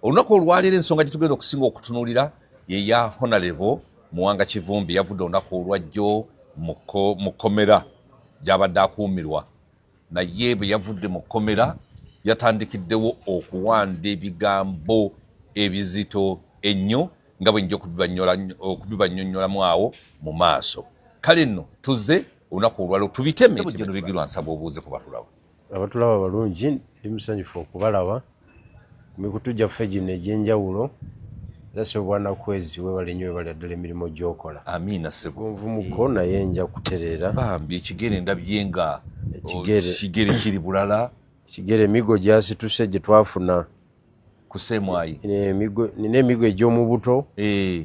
olunaku olwaleero ensonga gyetugenda okusinga okutunulira yeya honalebo muwanga kivumbi yavudde olunaku olwajjo mu kkomera gyabadde akuumirwa naye bwe yavudde mu kkomera yatandikiddewo okuwanda ebigambo ebizito ennyo nga bwe nja okubibanyonyolamu awo mu maaso kale nno tuze olunaku olwalo tubiteme bigirwa nsaba obuuze ku batulawo abatulaba abalungi ndi musanyufu okubalaba ku mikutu gyaffe gino egy'enjawulo era sebo bwana kwezi webale nyo webale addala emirimu gyokola amiina sebo nvumuko naye nja kutereera bambi ekigere ndabye nga ekigere oh, kiri bulala ekigere emigo gyasituse gye twafuna kusemwayi nina emigo egy'omubuto eh.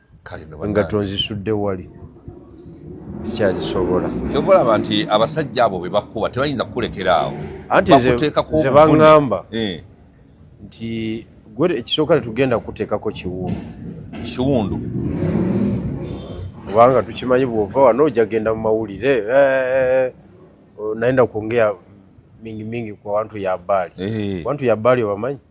nga tonzisudde wali sikyazisobola kyova olaba nti abasajja abo bebakuba tebayinza kukulekera awo anti zebaŋamba eh. nti gwe ekisooka tetugenda kukuteekako kiwundu kiwundu kubanga tukimanyi bwova wano ojja genda mu mawulire eh, naenda kuongea mingi mingi kwa wantu ya bali eh. wantu ya bali obamanyi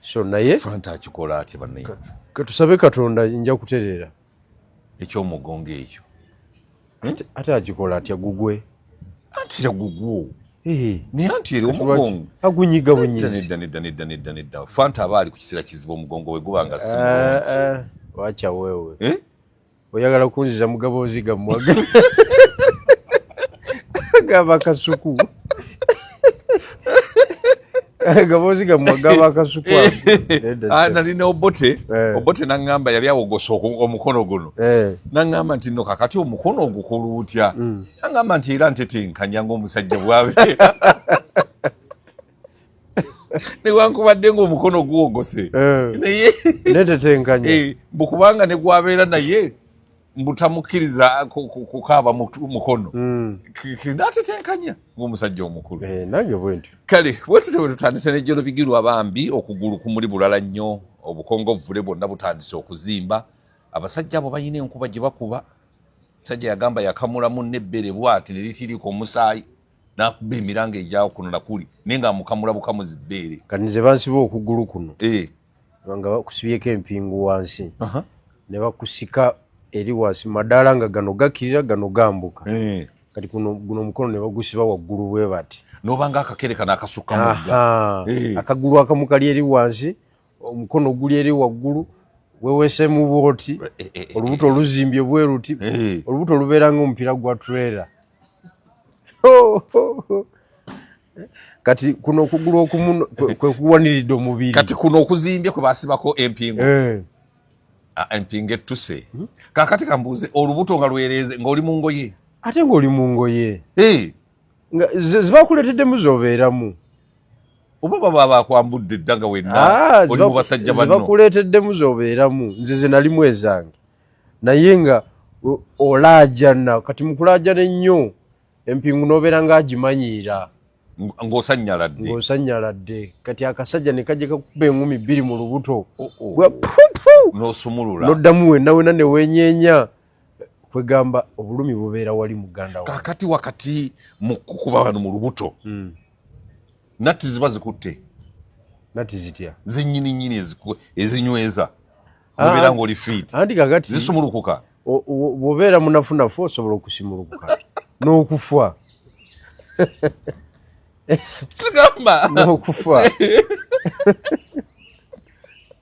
so naye fanta akikola atya banaye katusabe katonda nja kutereera ekyomugongo ekyo hmm? ate akikola atya gugwe antira gugwo naye anti eri omugongo agunyiga bunyizinedaneddaneddaneddanedda fanta aba ali ku kiseera kizibu omugongo we guba nga si eh, eh, wacha wewe eh? oyagala kunziza mugaboozi gammwaga gaba kasuku gaboozi gammwa gaba kasuku ah, nalina obote eh. obote naŋŋamba yali awogosa omukono guno eh. naŋŋamba nti no kakati omukono ogukulu utya mm. naŋŋamba nti era ntetenkanya ngaomusajja bwabeera newankubadde ngaomukono guwogose eh. naye netetenkanya eh, mbu kubanga negwabeera naye mbutamukkiriza kukaaba mukono hmm. natetenkanya ngaomusajja omukulu eh, nange bwentyo kale bwetute bwetutandise nejjolo bigirwa bambi okugulu kumuli bulala nnyo obukongovvule bwonna butandise okuzimba abasajja abo balina enkuba gye bakuba musajja yagamba yakamulamu nebbere bwati neritiriika omusaayi nakuba emiranga egyawo kuno nakuli naye nga amukamula bukamuzi bbeere kati nze bansiba okugulu kuno eh. nga bakusibyeko empingu wansi ne bakusika eri wansi madaala nga gano gakirira gano gambuka eh. kati kuno guno omukono ne bagusiba waggulu bwe bati nobanga akakere kano akasuka mugga eh. akagulu akamu kali eri wansi omukono guli eri waggulu wewesemu bwoti eh, eh, eh, olubuto oluzimbye bweruti olubuto lubeera nga omupiira gwa trera kati kuno okugulu okumu kwekuwaniridde omubiri kati kuno okuzimbye kwe basibako empingo ah, empingo ettuse hmm? kakati kambuuze olubuto nga lwereeze ngaoli mu ngoye ate ngaoli mu ngoye nga zibakuleteddemu zobeeramu oba baba bakwambudde dda nga wenna ah, oli mu basajja banno zibakuleeteddemu zobeeramu nze ze nalimu ezange naye nga olaajana kati mukulaajana ennyo empingu nobeera nga agimanyiira ng'osanyala dde ng'osanyala dde kati akasajja ne kajja kakuba engumi bbiri mu lubuto oh, oh. n'osumulula n'oddamu wenna wena ne weenyeenya kwegamba obulumi bubeera wali muganda wa kakati wakati mu kukuba wano mu lubuto mm. nati ziba zikutte nati zitya zenyini nyini ezinyweza obeera ah, ngaoli fit anti kakati zisumulukuka bwobeera munafunafu osobola okusimulukuka n'okufa tugamba n'okufa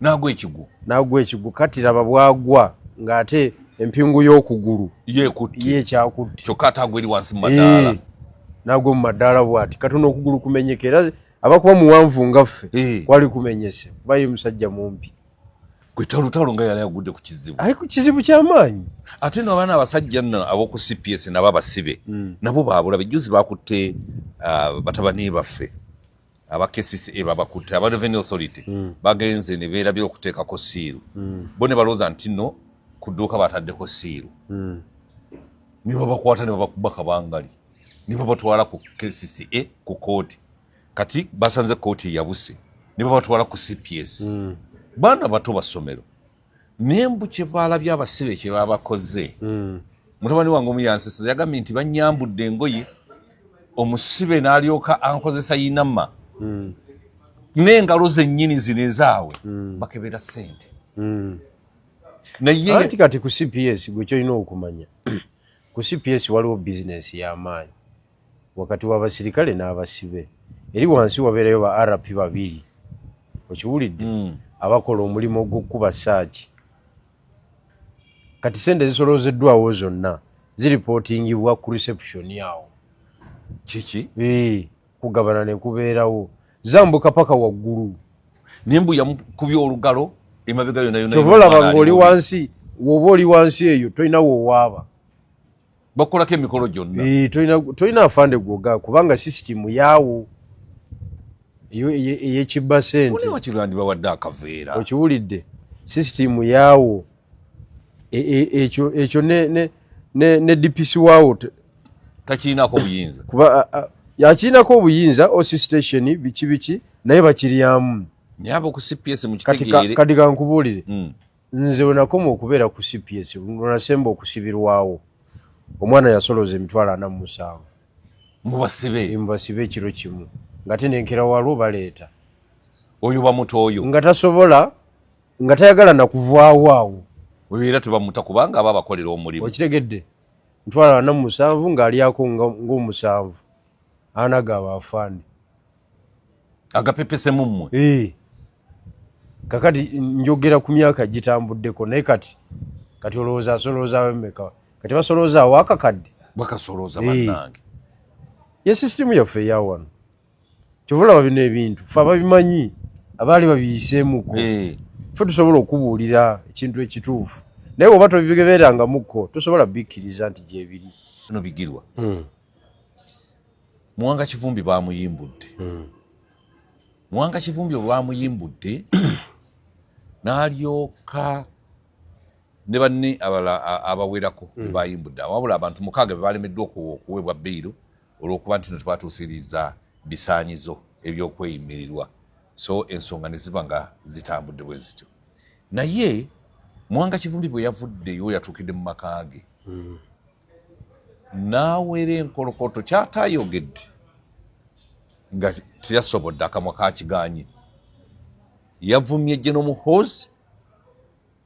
nagwa ekigwo nagwa ekigwo kati laba bwagwa ng'ate empingu y'okugulu yekyakutte kyokka ate agwa eri wansi mu madaala nagwa mu madaala bwati katona okugulu kumenyeka era abakuba muwanvu nga ffe kwali kumenyese kuba ye musajja mumpi kwetalutalo nga yali agudde ku kizibu ali ku kizibu kyamaanyi ate no abaana abasajja no aboku cps nabo abasibe mm. nabo babula bejuzi bakutte uh, batabani baffe aba kcca babakutte aba revenue authority mm. bagenze ne beerabye okuteekako siiru mm. bo ne balowooza nti no ku dduuka bataddeko siiru mm. ne babakwata ne babakuba kabangali ne babatwala ku kcca ku kooti kati basanze kooti eyabuse ne babatwala ku cps mm. baana bato basomero naye mbu kyebaalabye abasibe kyebabakoze hmm. mutabani wange omu yansesa yagambye nti banyambudde engoye omusibe n'alyoka ankozesa yinama hmm. n'engalo zennyini zino ezaawe hmm. bakebera sente naye kati ku cps gwe kyolina okumanya Ku CPS waliwo bizinensi y'amaanyi wakati w'abasirikale n'abasibe. Eri wansi wabeerayo ba RP babiri, okiwulidde, hmm. abakola omulimu ogw'okukuba saaki. Kati sente zisoloozeddwawo zonna ziripootingibwa ku reception awo. Kiki? Ee. Eh. kugabana nekubeerawo zambuka paka waggulu naye mbu yamukubya olugalo emabega yonayonakyova olaba nga oli wansi woba oli wansi eyo tolina wowaaba bakukolako emikolo gyonna tolina afande gwoga kubanga sisitimu yaawo eyekibba sente okiwulidde sisitimu yaawo ekyo e, ekyo ne ne ne, ne DPC wao takirina ko buyinza kuba yakirina ko buyinza o station bichi bichi naye bakiriyamu nyabo ku CPS mu kitegere kati ka nkubulire mm. nze wenakoma okubeera ku CPS nasemba okusibirwawo omwana yasoloza emitwalo ana musanvu mubasibe mubasibe ekiro kimu ngate nenkera walwo baleeta oyo bamuto oyo nga tasobola nga tayagala nakuvaawo awo oyo era tebamuta kubanga aba abakolera omulimu okitegedde ntwala ana musanvu ng'alyako ng'omusanvu ana gaaba afande agapepesemu mmwe eh. kakati njogera ku myaka gitambuddeko naye kati kati olowooza asoloozawo emeka kati basoloozaawo akakadde bakasolooza eh. bannange ye sisitimu yaffe eyawano kyovulaba bino ebintu fe ababimanyi abaali babiyiseemuko eh. fe tusobola okubuulira ekintu ekituufu naye oba tobigebeerangamuko tosobola bikkiriza nti gyebiri no bigirwa hmm. muwanga kivumbi bamuyimbudde hmm. muwanga kivumbi olwamuyimbudde n'alyoka ne banne abala abawerako hmm. bayimbudde wabula abantu mukaaga bebalemeddwa okuweebwa beyiro olwokuba nti no twatuusiriza bisaanyizo ebyokweyimirirwa so ensonga ne ziba nga zitambudde bwe zityo naye mwanga kivumbi bwe yavuddeyo yatuukidde mu maka ge hmm. n'awera enkolokoto kyatayogedde nga teyasobodde akamwa kakiganye yavumye gye n'omuhoozi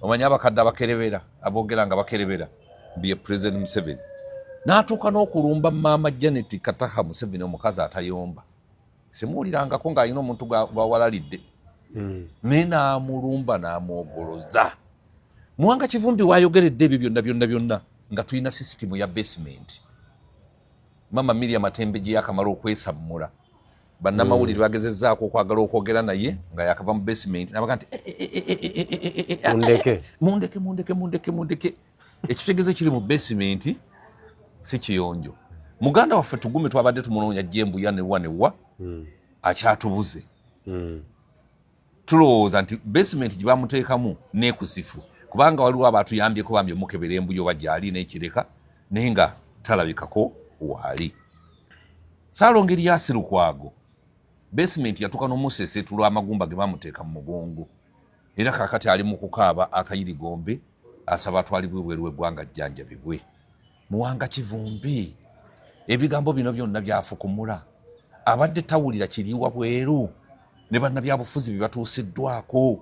omanyi abakadde abakerebera aboogera nga bakerebera bye president museveni n'atuuka n'okulumba maama janet kataha museveni omukazi atayomba simuwulirangako ng'alina omuntu gwawalalidde hmm. naye n'amulumba n'amwogoloza muwanga kivumbi wayogeredde ebyo byonna byonna byonna nga tulina sisitimu ya basement maama miriam atembe gye yakamala okwesammula bannamawulire mm. bagezezaako okwagala okwogera naye nga yakava mu basement nabaga nti mundeke mundeke mundeke mundeke mundeke ekitegeze kiri mu basement si kiyonjo muganda waffe tugume twabadde tumunoonya jembuya newa newa mm. akyatubuze mm. tulowooza nti basement gye bamuteekamu neekusifu kubanga waliwo abatuyambyeko bambi omukebera embuyo oba gyali nekireka naye nga talabikako waali saalongeri yasirukwago basement yatuuka nomusesetu lwamagumba ge bamuteeka mu mugongo era kakati ali mu kukaaba akayirigombe asaba atwalibwe bweru weggwanga jjanjabibwe muwanga kivumbi ebigambo bino byonna byafukumula abadde tawulira kiriwa bweru ne bannabyabufuzi bye batuusiddwako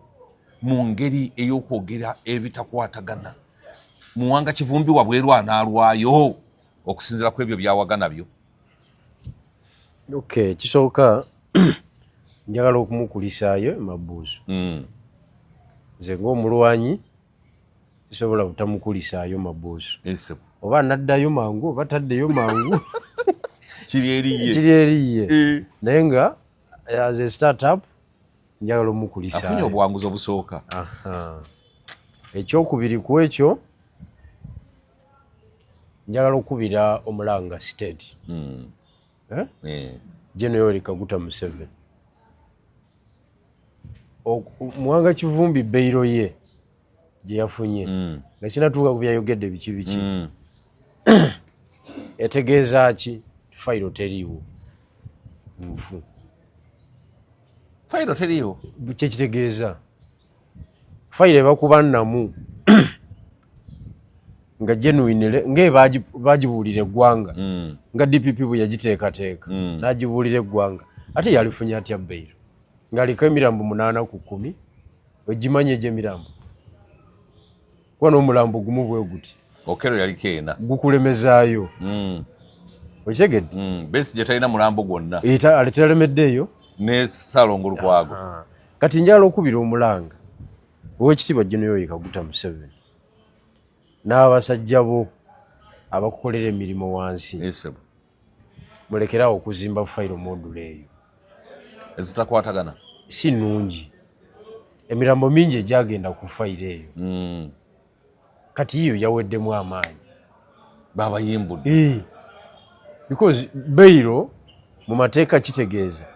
mu ngeri ey'okwogera ebitakwatagana muwanga kivumbi wabweru anaalwayo okusinzira ku ebyo byawagana byo ok kisooka njagala okumukulisaayo emabuuzo mm. nze ngaomulwanyi sobola butamukulisaayo mabuusu eh, oba naddayo mangu oba taddeyo mangu kiri eriye eh. naye nga eh, as a startup njagala omukulisaafunye obuwanguzi obusooka ekyokubiri ku ekyo njagala okukubira omulanga state hmm. eh? Eh. general yoweri kaguta museveni muwanga kivumbi beiro ye gyeyafunye mm. nga sinatuuka ku byayogedde biki biki mm. etegeeza ki fayiro teriiwo nfu fayiro teriiwo kyekitegeeza fayiro ebakuba namu nga genuinele nga bagibuulira eggwanga mm. nga dpp bwe yagiteekateeka mm. n'agibuulira eggwanga ate yalifunye atya beyiro ng'aliko emirambo munaana ku kkumi ogimanyi egy'emirambo kuba n'omulambo gumu bwe guti okero yali keena gukulemezaayo mm. okitegedde mm. besi gye talina mulambo gwonna aletelemedde eyo ne salongo lukwago kati njala okubira omulanga owekitiibwa jenoyoyika guta museveni n'abasajja bo abakukolera emirimu wansi mulekerawo okuzimba fayiro modula eyo ezitakwatagana si nungi emirambo mingi egyagenda ku fayiro eyo hmm. kati yiyo yaweddemu amaanyi babayimbudde eh. because beyiro mu mateeka kitegeeza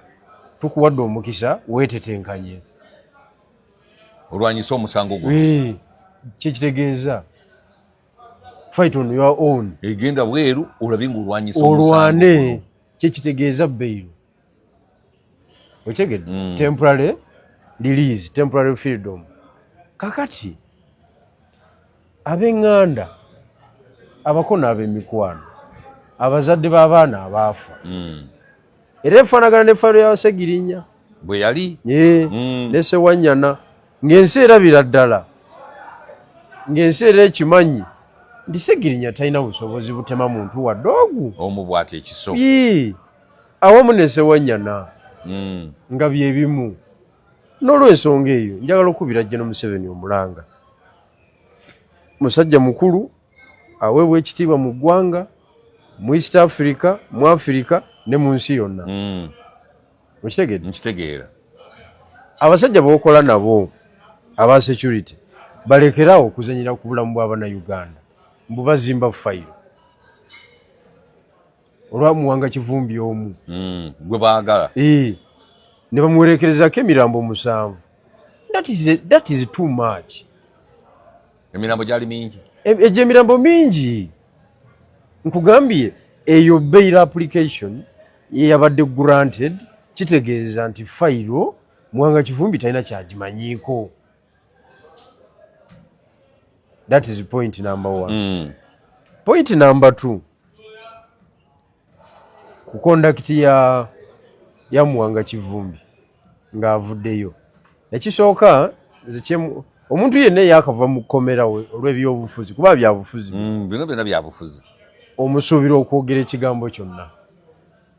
tukuwadde omukisa weetetenkanye olwanyisa omusango gwo eh, kyekitegeeza fight on your own egenda bweru olabe nga olwanyisa olwane kyekitegeeza beyiro okyegede mm. temporary release temporary freedom kakati abenganda abako n'abemikwano abazadde b'abaana abaafa mm. era efaanagana ne fayiro ya segirinya bwe yali mm. ne sewanyana ng'ensi erabira ddala ng'ensi era ekimanyi nti segirinya talina busobozi butema muntu wadde ogu omu bwati ekiso awamu ne sewanyana mm. nga bye bimu n'olwensonga eyo njagala okubira jjeno museveni omulanga musajja mukulu aweebwa ekitiibwa mu ggwanga mu east africa mu afirika ne mu nsi yonna hmm. okitegeedekitegeera abasajja bokola nabo aba security balekerawo okuzanyira ku bulamu bwabana uganda mbu bazimba fayiro olwa muwanga kivumbi omu mm, gwe baagala e, ne bamuwerekerezako emirambo omusanvu that is, a, that is too much emirambo gyali mingi e, egyo emirambo mingi nkugambye eyo bail application yeyabadde granted kitegeeza nti fayiro muwanga kivumbi talina kyagimanyiiko that is point number one mm. point number two ku kondakiti ya ya muwanga kivumbi ng'avuddeyo ekisooka zekyemu omuntu yenna eyakava mu kkomera olw'ebyobufuzi kuba byabufuzi mm, bino byona byabufuzi omusuubira okwogera ekigambo kyonna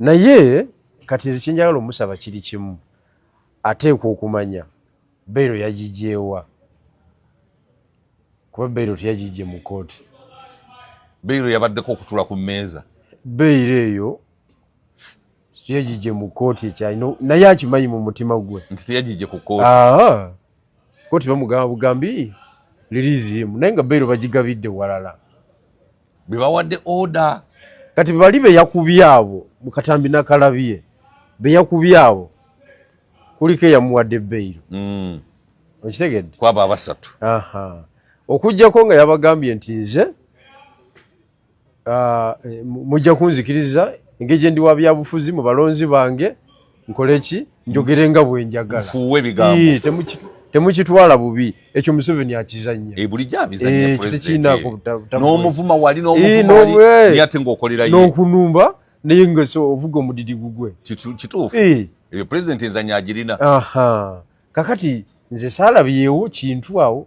naye kati nze kyenjagala omusaba kiri kimu ateekwa okumanya beiro yagigyewa kuba beiro teyagigye mu kooti beiro yabaddeko okutula ku mmeeza beiro eyo yagigye mu kooti ekyalina naye akimanyi mu mutima gwe nti teyagigye ku kooti kooti bamugamba bugambi liriizi emu naye nga beiro bagigabidde walala bebawadde oda kati bali beyakubye abo mukatambi nakalabye beyakubye abo kuliko eyamuwadde beyiro mm. okitegedde kwabo abasatu okujjako nga yabagambye nti nze ah, eh, mujja kunzikiriza engeri gyendi wa byabufuzi mu balonzi bange nkole ki njogere nga bwenjagala nfuuwe ebigambo temukitwala bubi ekyo museveni akizanya eh, bulijabizanyakitekinakonomuvuma eh, wali nomuvumate ngaokolerayo nokunumba naye nga ovuga omudidi gugwe kituufu eh. eyo pulezidenti enzanya agirina kakati nze saalabyewo kintu awo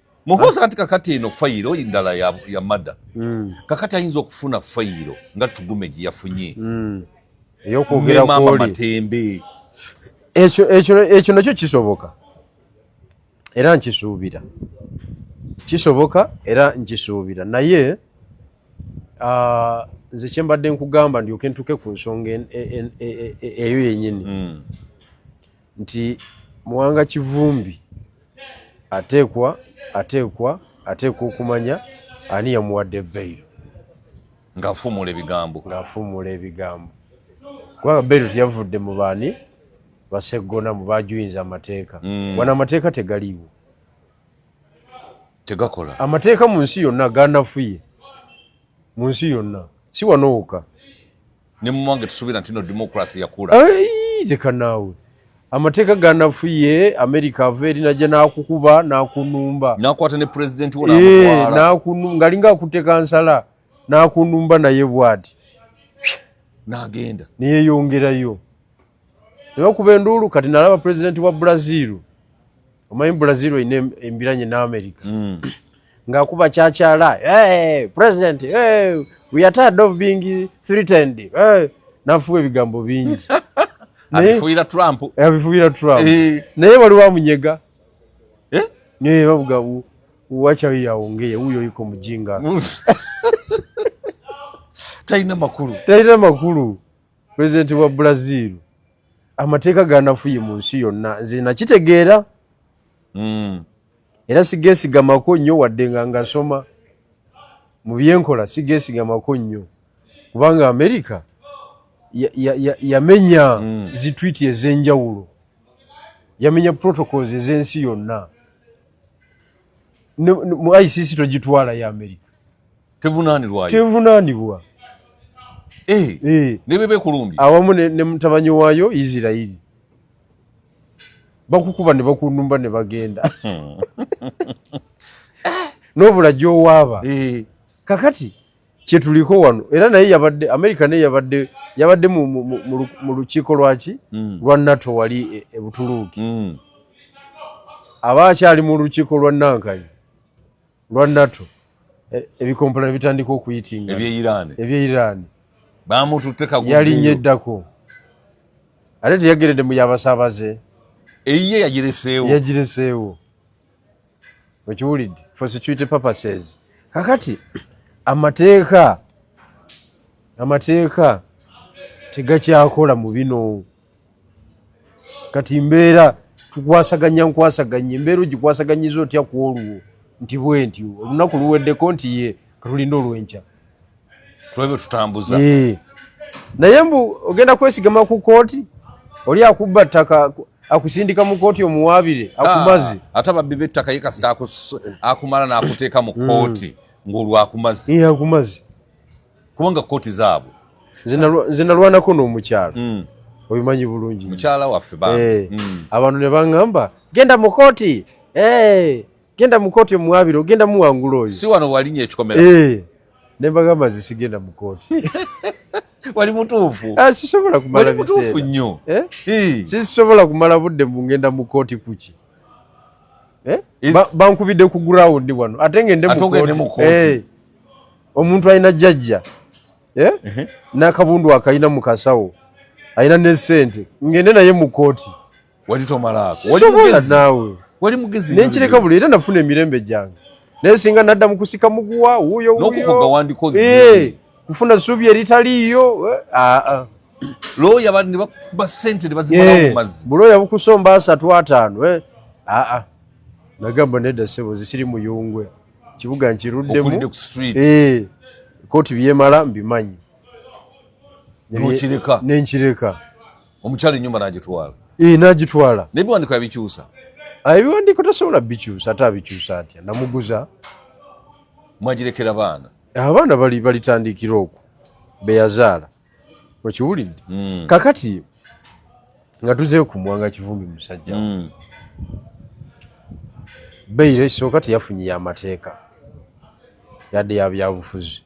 muhoozi anti kakati eno fayiro ndala ya, ya mada mm. kakati ayinza okufuna fayiro nga tugume gye yafunye mm. eyokwogerakwoli matembe ekyo ekyo ekyo nakyo kisoboka era nkisuubira kisoboka era nkisuubira naye uh, nze kyembadde nkugamba ndyoke ntuke ku nsonga e, e, e, eyo yenyini mm. nti muwanga kivumbi ateekwa ateekwa ateekwa okumanya ani yamuwadde beyiro ngaafuumuula ebigambo ngaafuumuula ebigambo kubanga beyiro teyavudde mu baani baseggona mu bajuyinza amateeka mm. wano amateeka tegaliiwo tegakola amateeka mu nsi yonna ganafuye mu nsi yonna si wano woka ne mumange tusubira ntino democracy yakula teka naawe amateeka ganafuye america ava eri najja nakukuba nakunumba nakwata ne president wo ngalinga akuteka nsala nakunumba naye bwati nagenda neyeyongerayo nebakuba enduulu kati nalaba pulezidenti wa brazil omanyi brazil olina embiranye ne america mm. ngaakuba kyakyala hey, president hey, we are tired of being threatened hey. nafuwa ebigambo bingi abifuira trump abifuira trump eh. naye wali wamunyega eh? naye bavuga wacha yaongeye huyo yuko mjinga talina makulu talina makulu pulezidenti wa brazil amateeka ganafuye mu nsi yonna nze nakitegeera hmm. era sigesigamako nnyo wadde nga ngasoma mu byenkola sigesigamako nnyo kubanga amerika yamenya ya, ya hmm. zitwiti ez'enjawulo yamenya protocols ez'ensi yonna mu icc togitwala ya amerika tevunanirwayo tevunanibwa eh, eh. nebebekulumbye awamu ne mutabanyi wayo isirairi bakukuba ne bakunumba ne bagenda hmm. nobula gyowaaba eh. kakati kyetuliko wano era naye yabadde amerika naye yabadde yabadde mu lukiiko lwaki hmm. lwa nato wali ebutuluuki e hmm. aba akyali mu lukiiko lwa nankayi lwa nato e, ebikompola ne bitandika okuyitinga eby'e iraani bamututte kagundi yalinye eddako ate teyageredde mu yabasaabaze eyiye yagireseewo yagireseewo okiwulidde for security purposes kakati amateeka amateeka tegakyakola mu bino kati mbeera tukwasaganya nkwasaganya embeera ogikwasaganyiza otya ku olwo nti bwe ntyo olunaku luweddeko nti ye katulinda olwenkya tulabe tutambuza naye mbu ogenda kwesigama ku kooti oli akubba ttaka akusindika mu kooti omuwaabire ah, akumazi ate ababbi b'ettaka ye kasita akumala n'akuteeka mu kooti mm. ng'olwakumazi akumazi kubanga kkooti zaabwe nze nalwanako n'omukyalo mm. obimanyi bulungi mukyala waffe ba eh, mm. abantu ne baŋŋamba genda mu kkooti eh, genda mu kkooti omuwabire ogenda muwangula oyo si wano walinya ekikomera eh, ne mbagamba ze sigenda mu kkooti wali mutuufu ah, sisobola kumala mutuufu nnyo sisobola kumala budde mu ngenda mu kkooti kuki bankubidde ku gurawundi wano ate ngende mu kkooti omuntu alina jajja eh? nakabundu akalina mukasawo alina nesente ngende naye mukooti walitomalaakowalimugezinaawe wali mugezi nenkireka buli era nafuna emirembe gyange naye singa nadda mukusika muguwa wuyo wuyokukoga eh, kufuna subi eritaliiyo eh, ah, ah. loya bakuba sente nebazimalamumazi buloya bukusomba asatu ataano aa nagamba nedda sebo zisiri muyungwe kibuga nkiruddemu eh, kooti byemala mbimanyi nokireka nenkireka omukyala enyumba nagitwala eh, nagitwala naye biwandiko yabikyusa ah, ebiwandiko tasobola bikyusa ate abikyusa atya namuguza mwagirekera baana abaana balitandikira okwo beyazaala okiwulidde mm. kakati nga tuzeyo ku mwanga kivumbi musajja mm. beyire kisooka teyafunye yamateeka yadde yabyabufuzi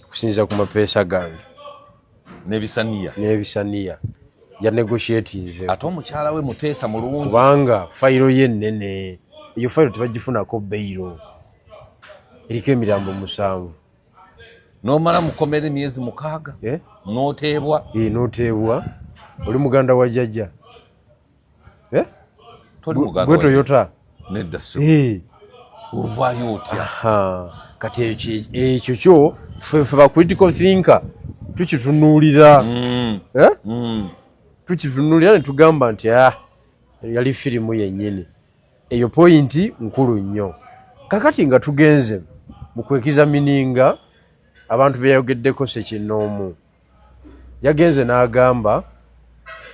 okusinziira ku mapeesa gange nebisaniya nebisaniya yanegoshiatinze ate omukyala we muteesa mulungi kubanga fayiro ye ennene eyo fayiro tebagifunako beyiro eriko emirambo musanvu nomala mukomera emyezi mukaaga eh? noteebwa eh, noteebwa oli muganda wa jajja eh? gwe toyota nedda ovayo otya kati ekyo kyo fefe ba critical thinker tukitunuulira mm. mm. tukitunuulira netugamba nti ah, yali firimu yennyini eyo pointi nkulu nnyo kakati nga tugenze mu kwekiza mininga abantu beyayogeddeko sekinoomu yagenze n'agamba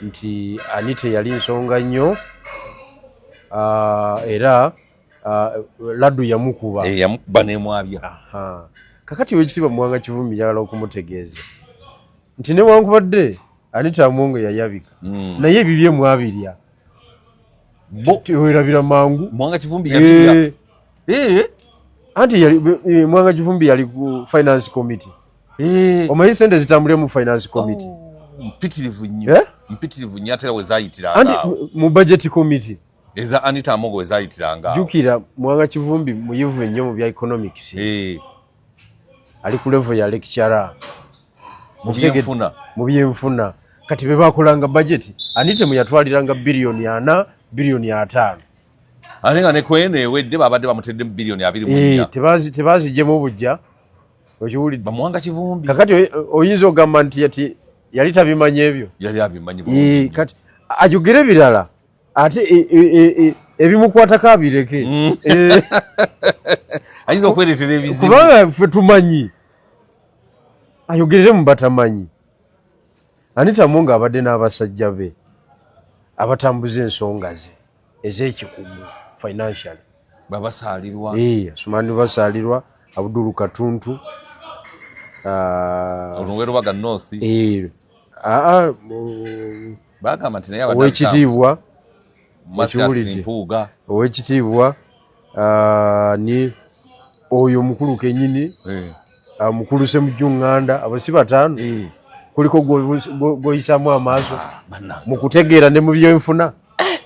nti anita eyali nsonga nnyo ah, era ah, laddu yamukuba eh, yamukuba nemwabya kakati wekitiibwa muwanga kivumi yagala okumutegeeza nti newankubadde anita amongo yayabika hmm. naye ebibye mwabirya werabira mangu mwanga kivumbi eh. Eh. anti eh, mwanga kivumbi yali ku finance committee omanyi sente zitambulire mu finance committee oh, mpitirivu nnyo mpitirivu nnyo atera wezayitira anti mu budget committee eza anita amogo wezayitiranga jukira mwanga kivumbi muyivu nnyo mu bya economics ali ku level ya lecturer mu byenfuna kati be bakolanga bajeti anitemu yatwaliranga biliyoni ana biliyoni ataano ate nga nekweno ewedde babadde bamuteddemu biliyoni abiri eh, tebazijemu bujja okiwulidde bamuwanga kivumbi kakati oyinza ogamba nti yati yali tabimanyi ebyo yali abimanyi eh, kati ayogere birala ate e, e, e, ebimukwatako abireke mm. eh. ayinza okweretera ebizibu kubanga ffe tumanyi ayogerere mu batamanyi anitamu nga abadde n'abasajja be abatambuza ensonga ze ez'ekikugu financial babasaalirwa eh, asumani basaalirwa abudulu katuntu ah, olunwerubaga north eh, ah, ah, bagamba nti naye owekitiibwa ekiwulidde owekitiibwa ah, ni oyo omukulu kenyini eh. ah, mukulu semujju nganda abasi bataano eh. kuliko gwoyisamu amaaso ah, mu kutegeera ne mu byenfuna eh.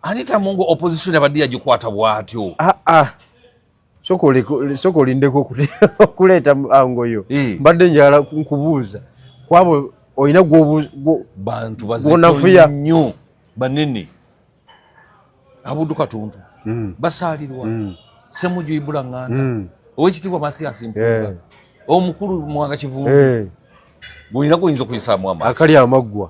anita mungu opposition abadde yagikwata bwatyo soka olindeko okuleeta angoyo eh. mbadde njala nkubuuza kwabo olina bantu bazifuya nnyo banene abudu katuntu mm. basaalirwa mm. semuju ibula nganda mm. owekitiibwa mathias mpuga eh. omukulu mwanga kivumbi eh. bulina kuyinza okuyisaamu amaaso akali amaggwa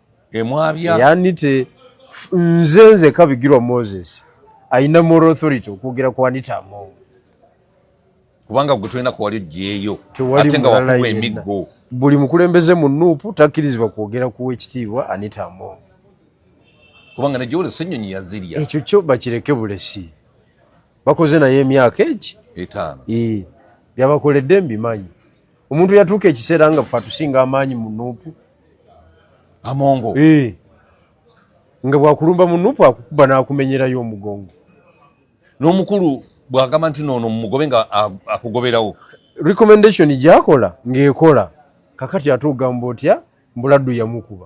emwabya yanite nze nze kabigirwa moses alina moral authority okwogera ku anita amongo kubanga gwe tolina kuwali ojeeyo ate nga wakuwa emiggo buli mukulembeze mu nuupu takkirizibwa kwogera kuwa ekitiibwa anita amongo kubanga nejoolesa ennyonyi yazirya ekyo kyo bakireke bulesi bakoze naye emyaka egi etaano byabakoledde mbimanyi omuntu yatuuka ekiseera nga fe atusinga amaanyi mu nuupu amongo eh. nga bwakulumba mu nuupu akukuba n'akumenyerayo omugongo n'omukulu bwagamba nti noono mumugobe nga akugoberawo recommendation gyakola ng'ekola kakati ate ogamba otya mbuladdu yamukuba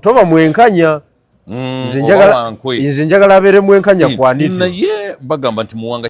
toba mwenkanya mm, nze njagala abeere mwenkanya kwaniti naye bagamba nti muwanga